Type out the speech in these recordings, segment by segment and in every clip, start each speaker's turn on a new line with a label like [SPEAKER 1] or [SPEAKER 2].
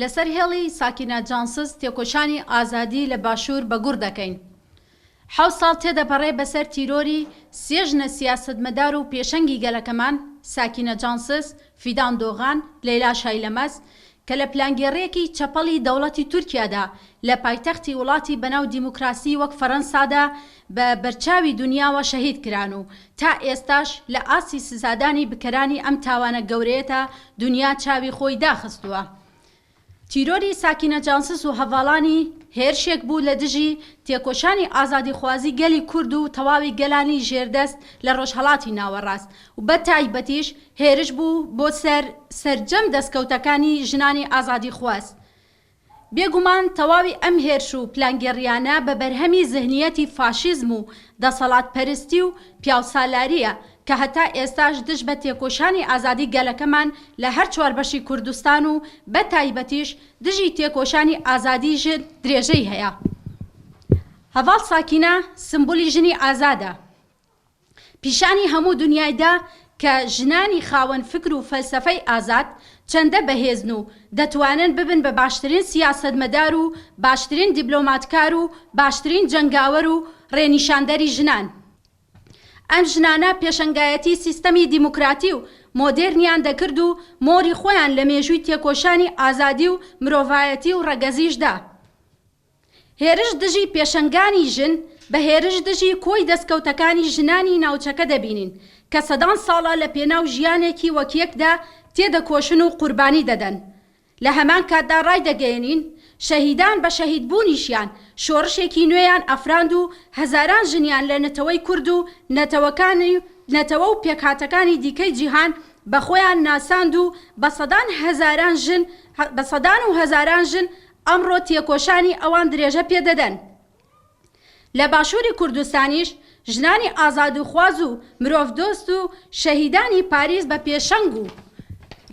[SPEAKER 1] لەسەر هێڵی ساکینە جانسز تێکۆشانی ئازادی لە باشوور بەگوڕ دەکەین. حەوت ساڵ تێدەپەڕێ بەسەر تیرۆری سێ ژنە سیاسەتمەدار و پێشەنگی گەلەکەمان، ساکینە جانسز، فیدان دۆغان، لەیلا شایلەمەز، کە لە پلانگێڕییەکی چەپەڵی دەوڵەتی تورکیادا لە پایتەختی وڵاتی بەناو دیموکراسی وەک فەرەنسادا بە بەرچاوی دونیاوە شەهید کران و تا ئێستاش لە ئاستی سزادانی بکەرانی ئەم تاوانە گەورەیەتا دونیا چاوی خۆی داخستووە. تیرۆری ساکینە جانسز و هەڤاڵانی هێرشێک بوو لە دژی تێکۆشانی ئازادیخوازی گەلی کورد و تەواوی گەلانی ژێردەست لە ڕۆژهەڵاتی ناوەڕاست و بە تایبەتیش هێرش بوو بۆ سەر سەرجەم دەستکەوتەکانی ژنانی ئازادیخواز بێگومان تەواوی ئەم هێرش و پلانگێڕییانە بە بەرهەمی زهنییەتی فاشیزم و دەسەڵاتپەرستی و پیاوسالارییە کە هەتا ئێستاش دژ بە تێکۆشانی ئازادی گەلەکەمان لە هەر چوار بەشی کوردستان و بە تایبەتیش دژی تێکۆشانی ئازادی ژن درێژەی هەیە. هەڤاڵ ساکینە سمبولی ژنی ئازادە. پیشانی هەموو دونیای دا کە ژنانی خاوەن فکر و فەلسەفەی ئازاد چەندە بەهێزن و دەتوانن ببن بە باشترین سیاسەتمەدار و باشترین دیبلۆماتکار و باشترین جەنگاوەر و ڕێنیشاندەری ژنان. ئەم ژنانە پێشەنگایەتی سیستەمی دیموکراتی و مۆدێرنیان دەکرد و مۆری خۆیان لە مێژووی تێکۆشانی ئازادی و مرۆڤایەتی و ڕەگەزیش دا. هێرش دژی پێشەنگانی ژن بە هێرش دژی کۆی دەستکەوتەکانی ژنانی ناوچەکە دەبینین کە سەدان ساڵە لە پێناو ژیانێکی وەک یەکدا تێدەکۆشن و قوربانی دەدەن لە هەمان کاتدا ڕایدەگەیەنین شەهیدان بە شەهید بوونیشیان شۆڕشێکی نوێیان ئەفراند و هەزاران ژنیان لە نەتەوەی کورد و نەتەوەکانی نەتەوە و پێکهاتەکانی دیکەی جیهان بە خۆیان ناساند و بە سەدان هەزاران ژن بە سەدان و هەزاران ژن ئەمڕۆ تێکۆشانی ئەوان درێژە پێ دەدەن. لە باشووری کوردستانیش ژنانی ئازادوخواز و مرۆڤدۆست و شەهیدانی پاریس بە پێشەنگ و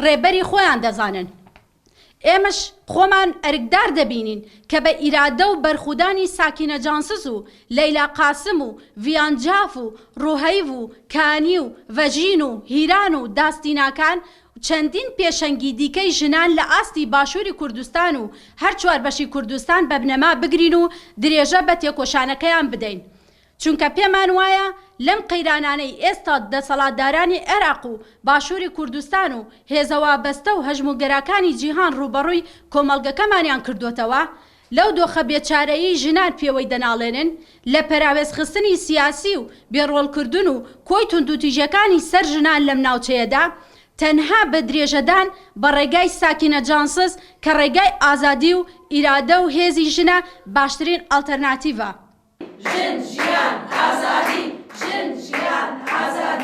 [SPEAKER 1] ڕێبەری خۆیان دەزانن. ئێمەش خۆمان ئەرکدار دەبینین کە بە ئیرادە و بەرخودانی ساکینە جانسز و لەیلا قاسم و ڤیان جاف و ڕوهەیڤ و کانی و ڤەژین و هیران و داستیناکان چەندین پێشەنگی دیکەی ژنان لە ئاستی باشووری کوردستان و هەر چوار بەشی کوردستان بە بنەما بگرین و درێژە بە تێکۆشانەکەیان بدەین. چونکە پێمان وایە لەم قەیرانانەی ئێستا دەسەڵاتدارانی عێراق و باشووری کوردستان و هێزە وابەستە و هەژموونگەراکانی جیهان ڕووبەڕووی کۆمەڵگەکەمانیان کردۆتەوە، لەو دۆخە بێچارەیەی ژنان پێوەی دەناڵێنن لە پەراوێزخستنی سیاسی و بێ ڕۆڵکردن و کۆی توندوتیژیەکانی سەر ژنان لەم ناوچەیەدا، تەنها بە درێژەدان بە ڕێگای ساکینە جانسز کە ڕێگای ئازادی و ئیرادە و هێزی
[SPEAKER 2] ژنە
[SPEAKER 1] باشترین ئەڵتەرناتیڤە. ژن،
[SPEAKER 2] ژیان،
[SPEAKER 1] ئازادی! ژن، ژیان، ئازادی!